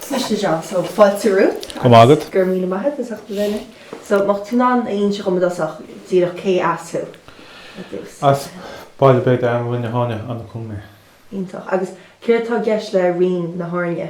Smaoistigh John, so fáilte romhat. Go raibh maith agat. Go raibh míle maith agat as ucht a bheith linn. So má tá tú in ann a inse dhom i dtosach díreach cé as thú ar dtús? As baile beag i bParóiste Mhuine Sheáin, An Cúm mé. Iontach. Agus céard tá i gceist le Rinn na hÁirne?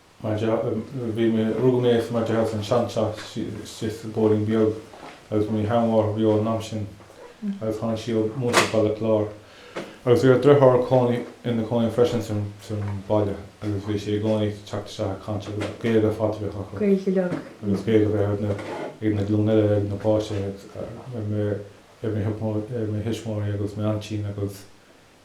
mar deá, bhí mé, rugadh mé mar deá san seanteach istigh sa bóithrín beag agus bhí mo sheanmháthair beo an am sin agus tháinig sí ó Bhaile Chláir agus bhí a dritháir cónaí ina cónaí freisin san san bhaile agus bhí sé i gcónaí ag teacht isteach ag caint agus Gaeilge ar fad a bhí acu, Gaeilge uilig, agus Gaeilge a bhí ag na, ag na glúin eile, ag na páistí agus ar mo, ar mo, ar mo thuismitheoirí agus m'aintín agus.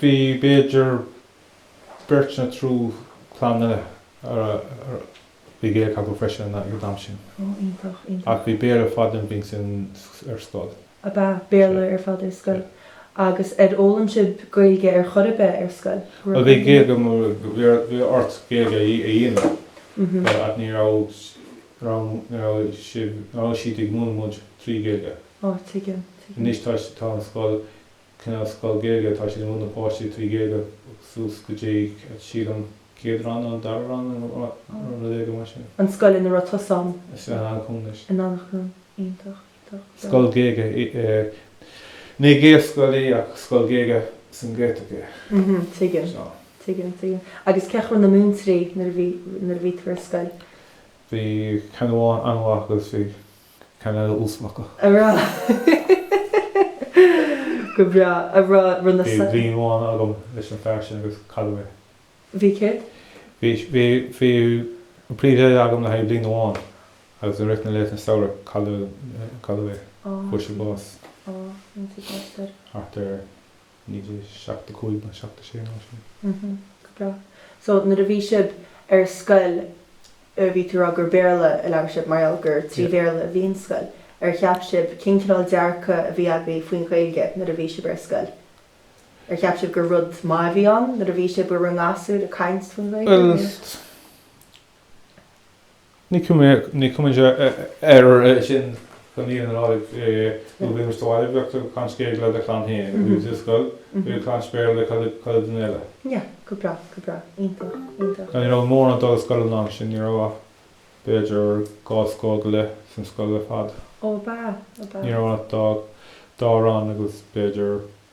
Bhí b'fhéidir beirt nó triúr clanna a bhí Gaeilge acu freisin ag an am sin. Ó, iontach, iontach. Ach bhí Béarla ar fad ansin ar scoil. Ab ea? Béarla ar fad ar scoil? Agus ar fhoghlaim sibh Gaeilge ar chor ar bith ar scoil? Bhuel, bhí Gaeilge agam, bhí ort Gaeilge a dhéanamh ach ní raibh, ní raibh sibh, ní raibh siad ag múineadh muid trí Ghaeilge. Ó, tuigim, tuigim. Anois tá an scoil cineál scoil Gaeilge atá siad ag múineadh páistí trí Ghaeilge suas go dtí sílim céad rang nó dara rang nó rud éigin mar sin. an scoil ina raibh tusa ann. Is ea, Eanach Dhúin anois. Eanach Dhúin. Iontach, iontach. Bhreá. Scoil Ghaeilge í. Ní Gaelscoil í ach scoil Ghaeilge sa nGaeltacht í. Mhm, tuigim. So. Tuigim, tuigim. Agus cén chaoi a raibh na múinteoirí nuair a bhí, nuair a bhí tú ar scoil? Bhí ceann amháin an-mhaith agus bhí. ceann eile uafásach. a rá Go breá, a rá run a Bhí bliain amháin agam leis an fear sin agus cailleadh é. Bhí céard? Bhí, bhí, bhí an príomhoide agam le haghaidh bliain amháin agus i rith na laethanta samhraidh cailleadh, cailleadh é, fuair sé bás thart ar. 1975 nó 76 nó mar sin. Mhm. Go breá. So nuair a bhí sib ar scoil eh bhí tú rá gur Béarla a labhair sib mar gheall gur trí Yeah. Bhéarla a bhí an scoil. Ar cheap sib, cén cineál dearcadh a bhí agaibh faoin Ghaeilge nuair a bhí sib ar scoil? Ar cheap sib gur rud maith a bhí ann nuair a bhí sib in bhur ngasúir ag caint faoin Ghaeilge Bhuel nó? Ní chuimhníonn tú air sin, bíonn tú sa mbaile bíonn tú ag caint Gaeilge le do chlann féin, bíonn tú sa scoil, bíonn ag caint Béarla le chuile dhuine eile. Yeah, go breá, go breá, iontach, iontach. Ní raibh mórán ag dul ag scoil an am sin, ní raibh ach b'fhéidir dhá scór go leith san scoil ar fad. Ó ab ea, ab ea. Ní raibh ach dhá rang agus b'fhéidir.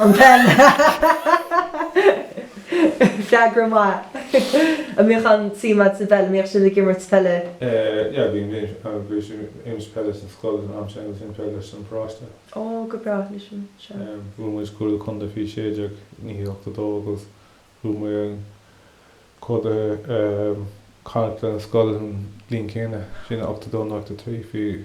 An pheil, freagra maith. An mbíodh aon suim agat sa bpeil, an mbíodh sibh ag imirt peile? Yeah, bhí mise agus bhí mise ag imirt peile san scoil an am sin agus an peil san paróiste. Ó, go breá, leis an, sea. Bhuaigh muid curaidh contae faoi sé deag naoi ochtó dó agus bhuaigh muid an curaidh Connacht lena scoil an bhliain céanna sin, ochtó dó nó ochtó trí faoi.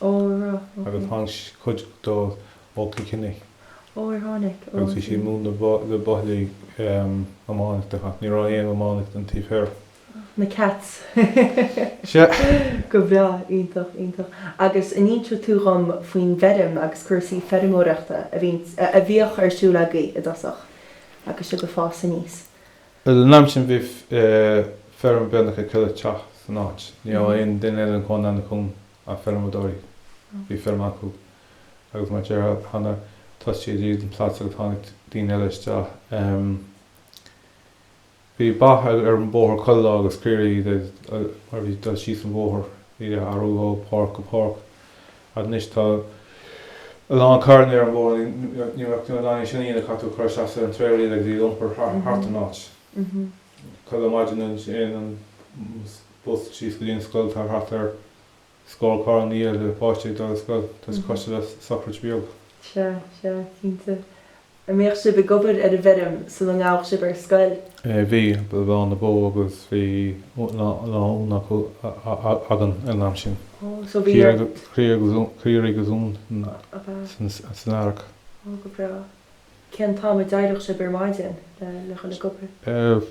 Ó right, ok. Agus tháinig cuid dóibh ó Chill Chainnigh. Ó ar tháinig? Ó Agus bhí sé ag múineadh na buachaillí iománaíocht ach ní raibh aon iománaíocht an taobh thoir. Na Cats. Sea. Go breá, iontach, iontach. Agus an inseoidh tú dhom faoin bhfeirm agus cúrsaí feirmeoireachta a bhíonns, a bhíodh ar siúl agaibh i dtosach agus sib ag fás aníos. Ar an am sin bhí feirm beagnach ag chuile teach san áit. Ní raibh aon duine eile ina chónaí, ina chónaí ach feirmeadóirí. Bhí feirm acu agus mar a deirim cheana thosaigh siad ag díol plots agus tháinig daoine eile isteach. Bhí ba ar an bóthar chuile lá agus caoirigh mar bhí ag dul síos an bhóthar. Bhí ag athrú ó páirc go páirc. Anois tá a lán carranna ar an bóthar, níl tú in ann é sin a dhéanamh caithfidh tú a chur isteach sa trailer agus iad a iompar thart an áit. Chuile maidin ansin an bus síos go dtí an scoil, tá thart ar scór carr ina dhiaidh le páistí ag dul ar scoil, tá sé cosúil le sochraid bheag. Sea, sea, cinnte. An mbíodh sib ag obair ar an bhfeirm sula ngabhadh sib ar scoil? Bhí, ag bleán na bó agus bhí laonna againn ar an am sin. Oh, so bhí ort. Caoirigh agus uain san earrach. Oh, go breá. Cén t-am a d'éireodh sib ar maidin le dhul ag obair?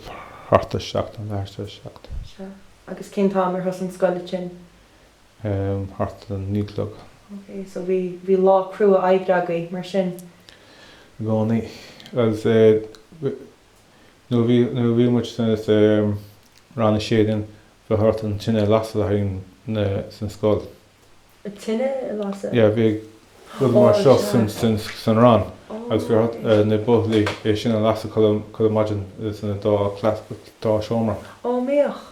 Thart ar seacht, nó leath tar éis seacht. Sea. Agus cén t-am ar thosaigh an scoil ansin? thart ar a naoi a chlog. Ok, so bhí, bhí lá crua oibre agaibh mar sin? I gcónaí. Agus nuair a bhí, nuair a bhí muid sa rang a sé bhí thart ar an tine a lasadh le haghaidh na, sa scoil. An tine a lasadh? Yeah, bhí rud mar seo san rang agus bhí thart ar na buachaillí é sin a lasadh chuile, chuile maidin sna dá, dá seomra. Á, mbeadh.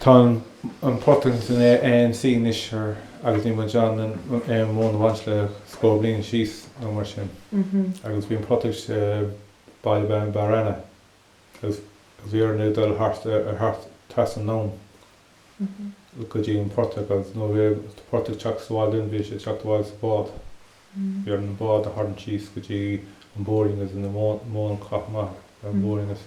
Tá an portach san ANC anois thoir agus níl muid in ann aon mhóin a bhaint le scór bliain síos nó mar sin agus bhí an portach istigh i Baile Bán Barr Anna agus bhí orainn dul thart ar thart trasna an abhainn go dtí an portach agus nuair a bhí an portach ag teacht sa bhaile linn bhí sé ag teacht abhaile sa bhád. Bhí orainn an bád a tharraingt síos go dtí an bóithrín agus an móin a chaitheamh amach ar an bhóithrín agus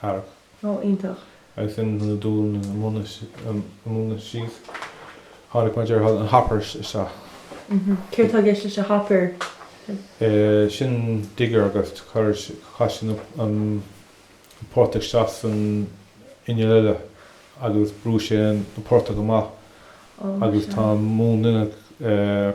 thart. Ó, iontach. Agus in a dúil na móna síos, tháinig mar a déarfá an hopper isteach. Céard tá i gceist leis an hopper? Sin digger agus chaith sí an portach isteach san inneall eile agus bhrú sé an portach amach agus tá an múnla ina.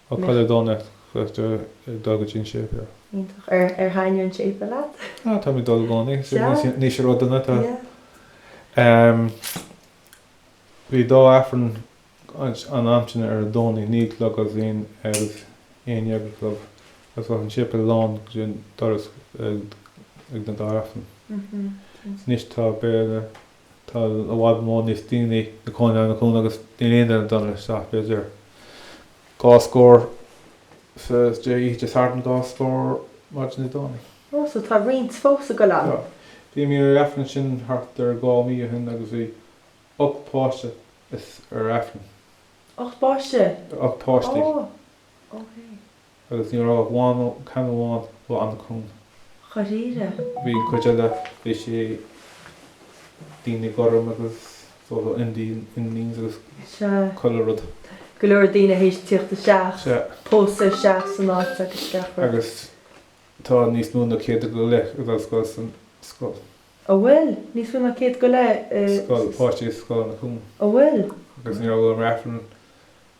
Ó chuile Domhnach chaith tú dhul go dtí an séipéal? Iontach. Ar ar thaitnigh an séipéal leat? Ó tá mé ag dul i gcónaí. Is é níos níos a raibh duine atá. Ehm bhí dá Aifreann an am sin ar an Domhnaigh naoi a chlog agus bhí an agus aon dhéag a chlog agus bheadh an séipéal lán go dtí an doras ag na dá Aifreann. Anois tá béile Tá i bhfad mó níos daoine ina chónaí in Anach Cuain agus níl aon duine dul isteach, b'fhéidir dhá scór sa Dé oíche Dé Sathairn, dhá scór maidin Dé Domhnaigh. Ó, so tá roinnt fós ag dul ann. Tá. Bhí mé ar Aifreann ansin thart ar dhá mí ó shin agus bhí ocht bpáiste ar Aifreann. Ocht bpáiste? Ocht páistí. Ó, ok. Agus ní raibh ach ceann amháin de Anach Cuain. Dáiríre? Bhí an cuid eile, bhí sé daoine gorm agus sort of Indians agus chuile rud. Sea. Go leor daoine th'éis tíocht isteach. Sea. Pósadh isteach san áit agus gach rud. Agus tá níos mó ná céad go leith ag dul scoil san scoil. Ó, an bhfuil? Níos mó ná céad go leith i. Scoil, páistí i Scoil Anach Cuain. Ó, an bhfuil? Agus ní raibh ar Aifreann.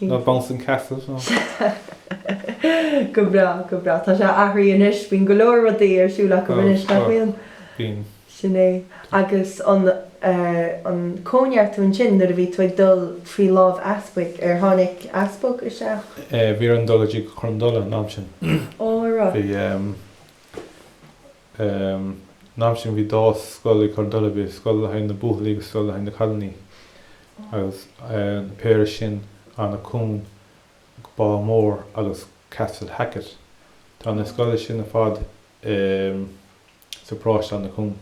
Ná Bouncing Castle nó. Go breá, go breá. Tá sé athraithe anois. Bíonn go leor rudaí ar siúl acu anois, nach bhíonn? Bíonn. Sin é. Agus an an cóineartú ansin nuair a bhí tú ag dul faoi láimh easpaig, ar tháinig easpag isteach? Bhí orainn dul go dtí Cor an Dola an am sin. Ó, an raibh. Bhí An am sin bhí dá scoil i gCor an Dola, bhí scoil le haghaidh na buachaillí agus scoil le haghaidh na cailíní agus na péire sin Anach Cuain go Bábhún Mór agus Castle Hackett. Tá na scoile sin ar fad sa paróiste Anach Cuain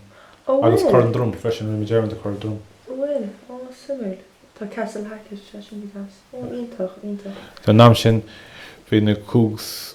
agus Cor an Droma freisin, rinne mé dearmad ar Cor an Droma. An bhfuil, á suimiúil. Tá Castle Hackett sé sin go deas. Ó, iontach, iontach. An am sin bhí na cúgs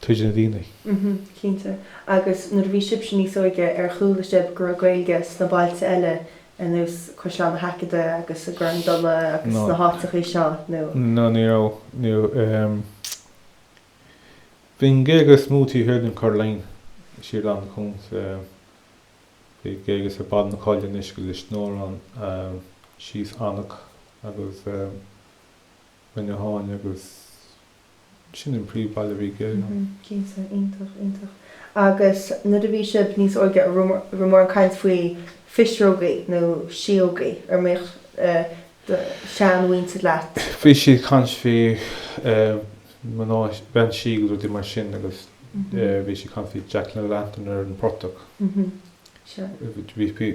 tríd na daoine. Mh, cinnte. Agus nuair a bhí sibhse níos óige ar chuala sibh go raibh Gaeilge sna bailte eile ar nós Caisleán an Haicéadaigh agus i gCor an Dola agus sna háiteachaí seo nó. No, ní raibh, ní raibh. Ehm, bhí an Ghaeilge is mó taobh thiar den Curraghline, siar in Anach Cuain. Bhí Gaeilge ar fad na coille anois go Lios an Óráin síos Anach agus Rinne Tháin agus. Sin an príomhbhaile rígh Éireann. Cinnte, iontach, iontach. Agus nuair a bhí sibh níos óige, a raibh mórán caint faoi phisreogaí nó síógaí ar mhaith do shean-mhuintir leat? Bhí siad caint faoi mná, bean sí agus rudaí mar sin agus bhí siad caint faoi Jack and the Lantern ar an portach. Bhí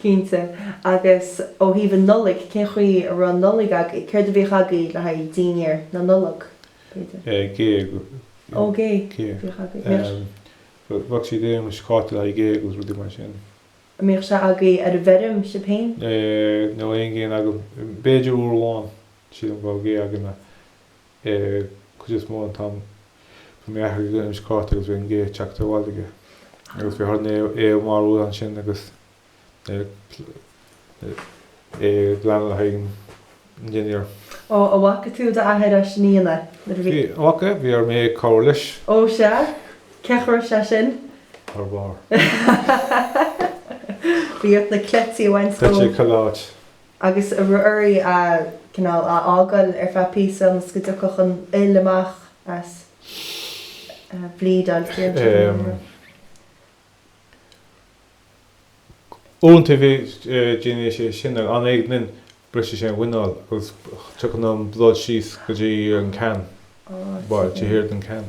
Cinnte. Agus ó thaobh an Nollaig, cén chaoi a raibh an Nollaig agaibh? Céard a bhíodh agaibh le haghaidh dinnéar na Nollag, b'fhéidir? Gé. Ó, gé a bhíodh agaibh. Bhíodh. Bheadh siad ag iarraidh scáta le haghaidh gé agus rudaí mar sin. An mbíodh sé agaibh ar an bhfeirm sibh féin? Ní raibh aon ghéanna againn. B'fhéidir uair amháin, sílim go raibh gé againn. cuid is mó an t-am. Bhí mé aithrighe go Inis Cártaigh agus bhí an gé ag teacht abhaile aige agus bhí ort é a mharbhú annsin agus é a ghlanadh le haghaidh an dinnéir. Ó, a bhfaca tú d'athair á dhéanamh sin. Bhfaca, bhí mé ag cabhair leis. Ó, sea, cén chaoi a raibh sé sin? Thar bárr. Bhí ort na cleití a bhaint dó. Cleití ag chuile áit. agus a raibh oraibh é, cineál, a fhágáil ar feadh píosa ionas go dtiocfadh an fhuil amach as a bhleedáil, an dtéann siad in aon rud? Iontach, déanfaidh sé sin ar an gé again brisfidh sé an muineál agus tiocfaidh an blood síos go dtí an ceann, bhuel, thart ar an ceann.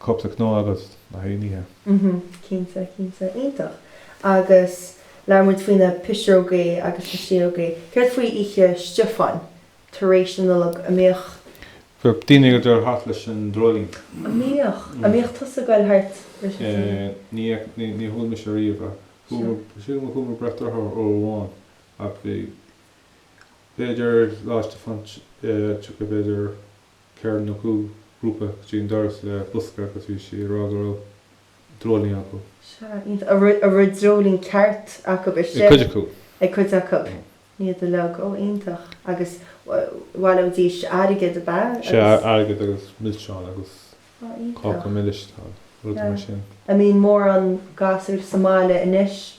cupla cnó agat le haghaidh an oíche? Mhm, cinnte, cinnte. Iontach. Agus labhair muid faoi na pisreogaí agus na síógaí. Céard faoi Oíche Stiofáin, tar éis na Nollag, an mbíodh. Bhíodh daoine ag dul thart leis an dreoilín. An mbíodh? An mbíodh tusa ag goil thart leis an dreoilín? Ní fhaca, ní, ní chuala mise riamh é. Sure. Chuala, silim gur chuala mé breac dorcha uair amháin ach bhí, b'fhéidir Lá Stiofáin, eh, tiocfaidh b'fhéidir. ceithre nó cúig ghrúpa go dtí an doras le bosca agus bhí siad ag rá go raibh dreoilín acu. Sea, iontach. A raibh dreoilín ceart acu istigh. Ag cuid acu. Ag cuid acu. Ní iad uilig. Ó, iontach. Agus bhaileoidís airgead, ab ea? Sea, airgead agus milseáin agus cáca milis, rudaí mar sin. An mbíonn mórán gasúr sa mbaile anois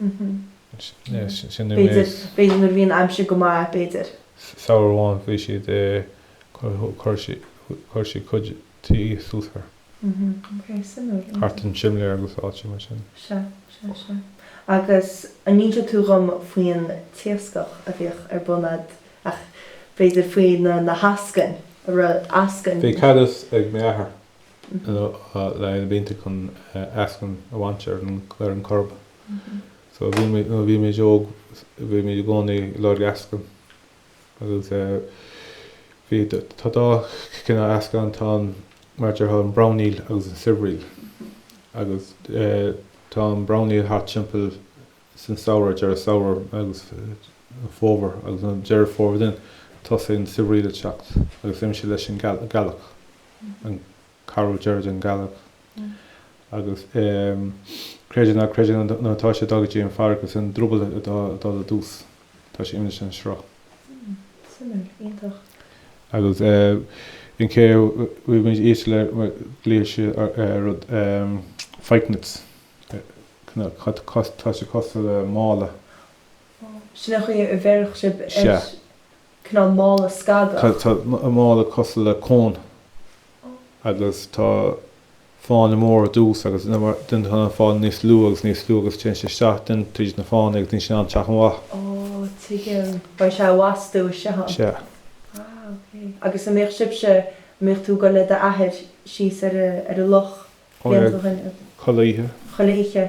B'fhéidir nuair a bhíonn aimsir go maith, b'fhéidir. Samhradh amháin bhí siad i chuir siad cuid tuí suas thoir. Thart an simléar agus áiteanna mar sin. Sea, sea, sea. Agus an n-inseodh tú dhom faoin t-iascach a bhíodh ar bun a'd, ach b'fhéidir faoi na h-eascainn, a raibh eascainn. Bhí cadas ag m'athair. le linn na blianta chun eascann a bhaint ar an gCoirib. So nuair a bhí muid óg bhí muid i gcónaí ag lorg eascann agus bhí, tá dhá chineál eascann ann, tá an, mar déarfá, an brown eel agus an silver eel. Agus tá an brown eel thart timpeall san samhradh, deireadh samhradh agus fómhar agus an deireadh fómhar then tosaíonn an silver eel ag teacht agus imíonn sé leis an gealach. an ceathrú deireadh den gealach agus creid é nó ná creid é nuair atá sé ag dul go dtí an fairrge is é an drioball ag dul i dtús tá sé imeacht san sruth. Suimiúil. Iontach. Agus an chaoi a bhí muid ísle le glaoidh siad ar rud fyke nets tá sé cosúil le mála. Sin an chaoi a bheireadh sib air. Sea. cineál mála scagach. Tá an mála cosúil le cón agus tá fáinne mór ar dtús agus then tá an fáinne níos lú agus níos lú agus téann sé isteach then tríd na fáinne agus níl sé in ann teacht amach. Ó, tuigim. Beidh sé i bhfastú isteach ann. Sea. Ah, ok. Agus a' mbíodh sibse, a' mbíodh tú a' gul le do athair síos ar a, ar a' loch blianta ó shin? Chuile oíche. Chuile oíche.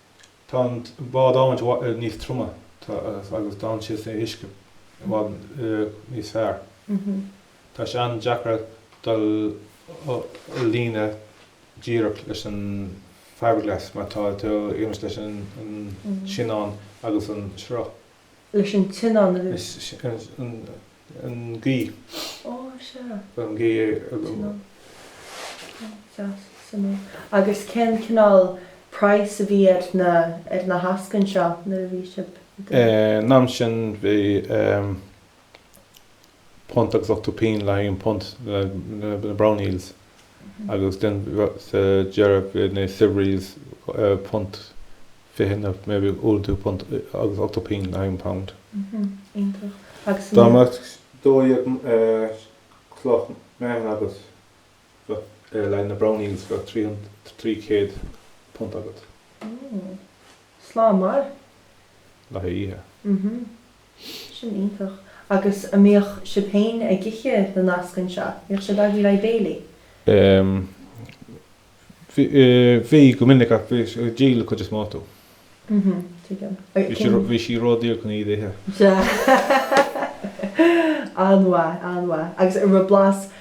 Tá an bád adhmaid níos troime agus d'fhan sé sa uisce i bhfad níos fearr. Tá sé an-deacair dul i líne díreach leis an fibre-glass mar tá tú ag imeacht leis an soinneán agus an sruth. leis an tsoinneán. Is an ghaoth. Ó, sea. An ghaoth. Soinneán. Cén deas san é? Agus cén cineál price a bhí ar na, ar na heascainn seo nuair a bhí sibh ag. An am sin bhí punt agus ochtó pínn le haghaidh an punt na brown eels agus then sa deireadh bhí na silver eels punt fiche nó maybe uair nó dhó punt agus ochtó pínn le haghaidh an pound. Iontach. Agus Dá mbeadh dó dhéag cloch meáchain agat bheadh le haghaidh na brown eels bheadh trí trí chéad punt agat. Slám maith. Le haghaidh oíche. Sin iontach. Agus a' mbíodh sib héin ag ithe na n-eascann seo? A' mbíodh siad agaibh le béilí? Ehm. Bhí, bhí go minic ach bhí, díoladh cuid is mó acu. Mhm. Tuigim. Bhí sí, bhí sí ró-daor chun iad a ithe. Sea. An-mhaith, an-mhaith. Agus a' raibh blas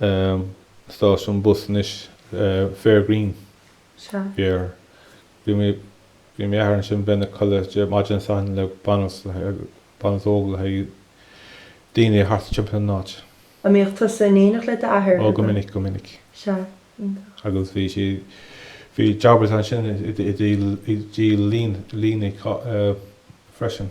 um stáisiún bus anois uh Fair Green. Sea. Bhí ar, bhí mé, bhí m'athair ansin bheinn i mo chodladh Dé, maidin Dé Sathairn le banbhs le haghaidh, banbhs óg le haghaidh daoine thart timpeall an áit. An mbíodh tusa in éineacht le d'athair? Ó go minic, go minic. Sea. Iontach. Agus bhí sí, bhí jobbers ansin i dtí, i dtí lín, líne uh freisin.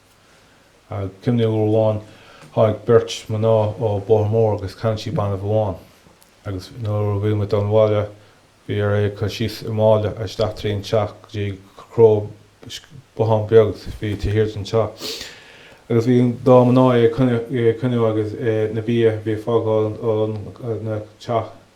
Is cuimhin uair amháin tháinig beirt mná ó Bóthar Mór agus cheannaigh sí banbh amháin agus nuair a bhí muid dul abhaile bhí orainn é a cur síos i mála isteach trí an teach go dtí cró bothán beag bhí taobh thiar den teach agus bhí an dá mná é ag coinneadh agus na bia bhí ag fágáil an teach.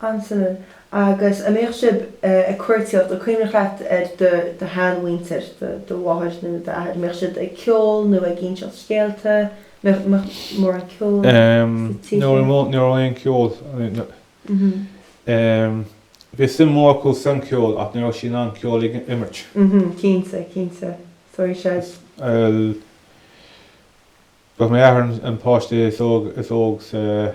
annsin agus an mbíodh sibh ag cuartaíocht, an cuimhneach leat ar do shean mhuinntir, do mháthair nó d'athair, an mbíodh siad ag ceol nó ag ínseacht scéalta, mbíodh mórán ceoil sa tigh sin. Ní raibh aon cheol. Bhí suim mór acu san ceol ach ní raibh siad in ann ceol a imirt. Cinnte, cinnte. Sorry Sea. Ba é m'athair an páiste is óg sa.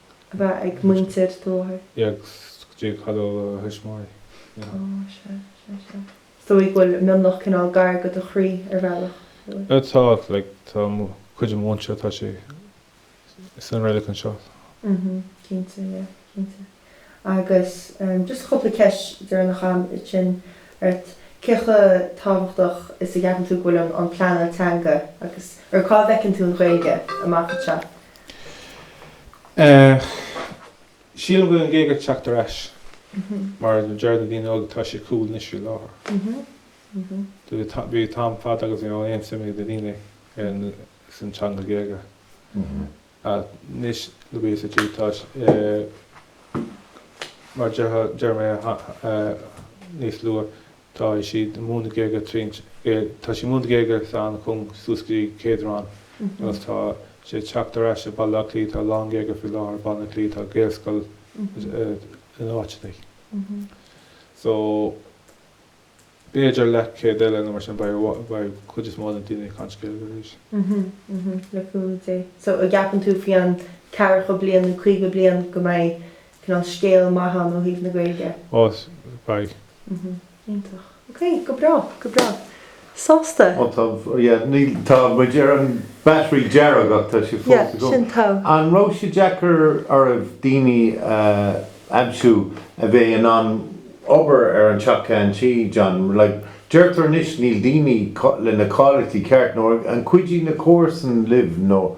a bheith ag muintir do mháthair. go dtí cailleadh a thuismitheoirí. Sea, sea, sea. Is dóigh go bhfuil Mionlach cineál gar go do chroí ar bhealach. Tá, like, tá cuid den mhuintir, tá sé san reilig anseo. Mhm, cinnte, yeah, cinnte. Agus ehm, just cúpla ceist deireanach a'm ansin ort. Cé chomh tábhachtach is a gceapann tú go bhfuil an an pleanáil teanga agus, or cá bhfeiceann tú an Ghaeilge amach anseo? Sílim go bhfuil an Ghaeilge ag teacht ar ais mar a deir na daoine óga tá sé cool anois faoi láthair. Bhí am fada agus ní raibh aon suim ag na daoine san teanga Ghaeilge ach anois le Béarla sa tír tá sé mar a deir mé níos luath, Tá siad ag múineadh Gaeilge tríd tá siad ag múineadh Gaeilge san chun suas go dtí céad rang agus tá sé ag teacht ar ais i Baile Átha Cliath, tá a lán Gaeilge faoi láthair i Baile Átha Cliath, tá Gaelscoil in áiteachaí. So b'fhéidir leath céad eile nó mar sin beidh beidh cuid is mó de na daoine ag caint Gaeilge arís. Le cúnamh Dé. So an gceapann tú faoi an ceathracha bliain nó caoga bliain go mbeidh cineál scéal maith ann ó thaobh na Gaeilge. Ó beidh. Mhm. Iontach. Ok, go breá, go breá. Sásta? Ó tá, yeah, níl, tá muid ar an battery dearg ach tá sé fós i gcónaí. Yeah, sin togha. An raibh sé deacair oraibh daoine a aimsiú a bheadh in ann obair ar an teach ceann tuí, John? Like, deirtear anois níl daoine leis na cáilíochtaí ceart nó ar, ar chuidigh na comharsain libh nó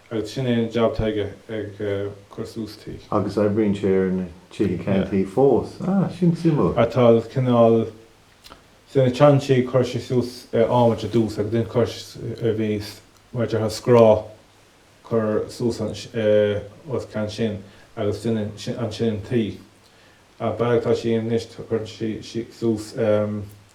Agus sin é an jab tá aige, ag cur suas tuí. Agus oibríonn sé ar na tithe ceann tuí fós. Ah, sin suimiúil. Tá cineál, sna seantithe chuir sé suas adhmad ar dtús agus then chuir sé, bhí mar a déarfá scraith curtha suas os cionn sin agus then ansin an tuí. Ach bealach atá sé anois tá, cuireann sé suas.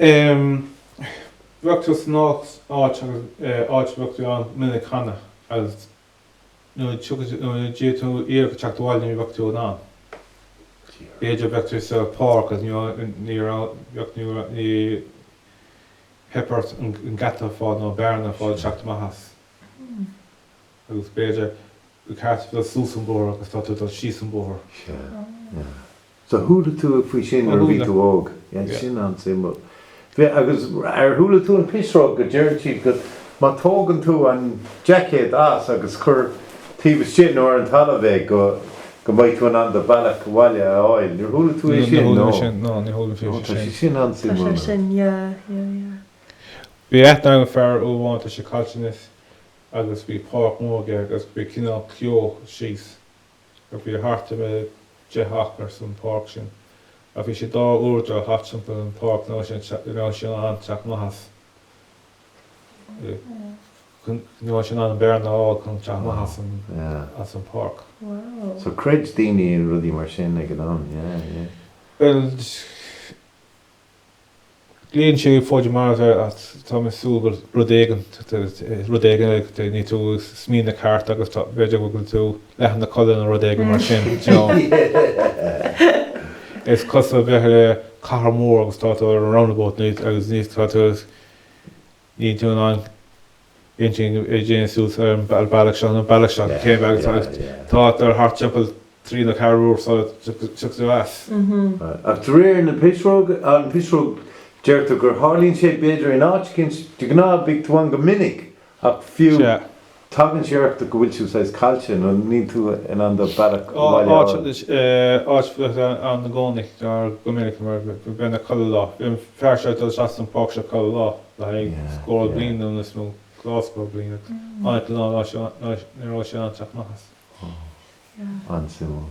Um bheadh tú san áit áit agus eh áit a bheadh tú ann minic cheana agus nuair a tiocfaidh tú nuair a d'fhéad tú iarraidh teacht abhaile ní bheadh tú in ann. B'fhéidir bheadh tú sa pháirc agus ní raibh ní raibh bheadh ní raibh ní theip ort an geata a fáil nó bearna a fáil teacht amach as. Agus b'fhéidir gur ceart dul suas an bóthar agus tá tú ag dul síos an bóthar. So chuala tú faoi sin nuair a bhí tú óg. Yeah, sin an-suimiúil. Bhí, agus ar chuala tú an pisreog go deireann siad go, má tógann tú an jaicéad as agus cuir taobh istigh nó ar an talamh é go, go mbeidh tú in ann do bealach abhaile a fháil. Níor chuala tú é sin? No. No, níor chuala mé faoi sin. Sin an-suimiúil. Tá sé sin, yeah, yeah, yeah. Bhí aithne agam ar fear uair amháin, tá sé caillte anois, agus bhí páirc mór aige agus bhí cineál ceó síos. Ach bhí thart ar a deich acra san páirc sin. Ach bhí sé dhá uair dul thart timpeall an páirc ní raibh sé in ann teacht amach as, ní raibh sé in ann bearna a fháil chun teacht amach as, as an páirc. So chreid daoine in rudaí mar sin ag an am yeah yeah. Bhuel Tarlaíonn sé b'fhéidir mar tá, Tá mé ag súil go bhfuil rud éigin, rud éigin níl tú ag smaoineamh ceart agus tá, b'fhéidir go bhfuil tú leath ina codladh nó rud éigin mar sin, you know. Is cosúil bheith ar cathair mhór agus tá tú ar an roundabout, níl a fhios agat, níl a fhios, tá tú, Níl tú in ann intinn a dhéanamh suas ar an bealach seo nó an bealach seo, cén bealach agus tá tú dul thart timpeall trí nó ceathair uair sula dtiocfaidh tú as. Ach de réir na pisreoga, an pisreog, deirtear gur tharlaíonn sé b'fhéidir in áit eicínt, de ghnáth beidh tú ann go minic ach fiú. Sea. Tagann sé ort go bhfuil tú saghas caillte nó níl tú in ann do bhealach abhaile a fháil. Is áit a bheadh tú ann i gcónaí go minic mar go mbíonn chuile lá. Bhí an fear seo ag dul isteach san páirc seo chuile lá le haghaidh scór bliain nó níos mó, dhá scór bliain. Ach an lá seo ní raibh sé in ann teacht amach as. An-suimiúil.